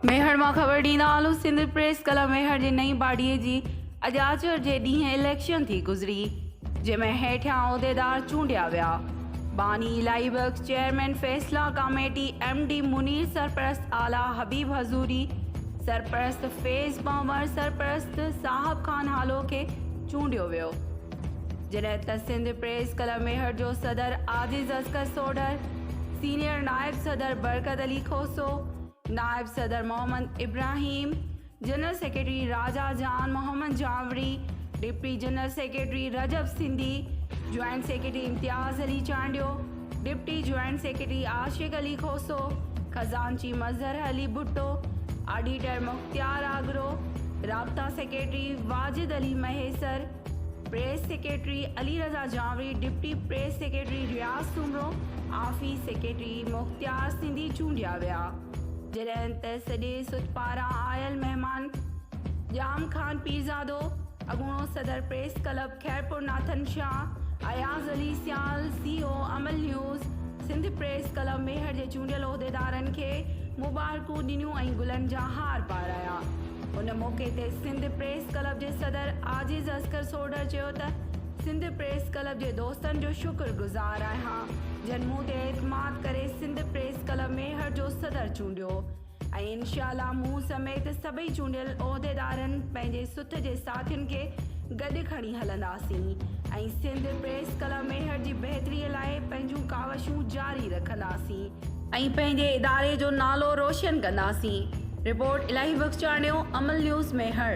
ميهڙ مان خبر ڏيندا هلون سنڌ پريس ڪلب ميهڙ جي نئين باڊي جي اڄ آچر جي ڏينهن اليڪشن ٿي گذري جنهن ۾ هيٺيان عهديدار چونڊيا ويا باني الاهي بخش، چيئرمين فيصلا ڪاميٽي، ايم ڊي منير، سرپرست اعليٰ حبيب حضوري، سرپرست فيض پنور، سرپرست صاحب خان هالو کي چونڊيو ويو، جڏهن ته سنڌ پريس ڪلب ميهڙ جو صدر عاجز اصغر سوڍر، سينيئر نائب صدر برڪت علي کوسو، نائب صدر Muhammad Ibrahim, general secretary Raja Jan Muhammad Janwari, deputy general secretary Rajab Sindhi, joint secretary Imtiaz Ali Chandio, deputy joint secretary Ashiq Ali Khoso, خزانچي مظهر علي ڀٽو، آڊيٽر مختيار آگرو، رابطا secretary Wajid Ali Mahesar, press secretary Ali Raza Janwari, deputy press secretary Riaz Soomro, office secretary Mukhtiar Sindhi چونڊيا ويا. جڏهن ته سڄي سٿ پاران آيل مهمان ڄام خان پيرزادو، اڳوڻو صدر press club Khairpur Nathan Shah, Ayaz Ali Sial, C O Amal news, Sindh press club Mehar جي چونڊيل عهديدارن کي مبارڪون ڏنيون ۽ گلن جا هار پارايا. ان موقعي تي سنڌ پريس ڪلب جي صدر عاجز اصغر سوڍر چيو ته سنڌ پريس ڪلب جي دوستن جو شڪر گذار آهيان جن مون تي اعتماد ڪري سنڌ پريس ڪلب ميهڙ جو صدر چونڊيو ۽ انشاء الله مون سميت سڀئي چونڊيل عهديدارن پنهنجي سٿ جي ساٿين کي گڏ کڻي هلنداسين ۽ سنڌ پريس ڪلب ميهڙ جي بهتري لاء پنهنجون ڪاوشون جاري رکنداسين ۽ پنهنجي اداري جو نالو روشن ڪنداسين رپورٽ الاهي بخشاڻيو امل نيوز ميهڙ.